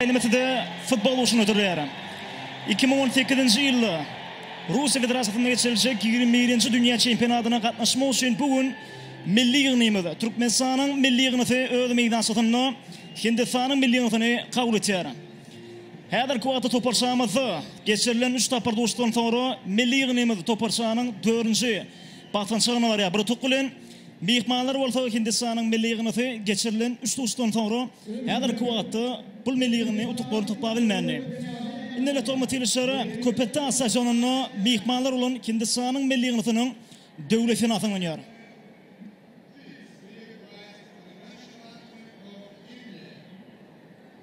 Almatide futbol urşuny hödürleýärin. Iki müň on sekizinji ýylda Russiýa Federasiýasynda geçiriljek ýigrimi birinji dünýä çempionatyna gatnaşmak üçin bu gün milli ýygnymyz, Türkmenistanyň milli ýygnysy öz meýdançasynda Hindistanyň milli ýygnysyny kabul etýär. Häzirki wagtda toparçamyzda geçirilen üç tapyr duşuşykdan soňra milli ýygnymyz toparçanyň dördünji Basgançak ýaňa barýar. Bir utuk bilen myhmanlar bolsa Hindistanyň milli ýygyndy geçirilen üç duşuşykdan soňra häzirki wagtda bul milli ýygyndy utuklary toplap bilmändi. Indi lokomotiwçilere Köpetdag stadionynda myhmanlar bolan Hindistanyň milli ýygyndynyň döwlet senasy ýaňlanýar.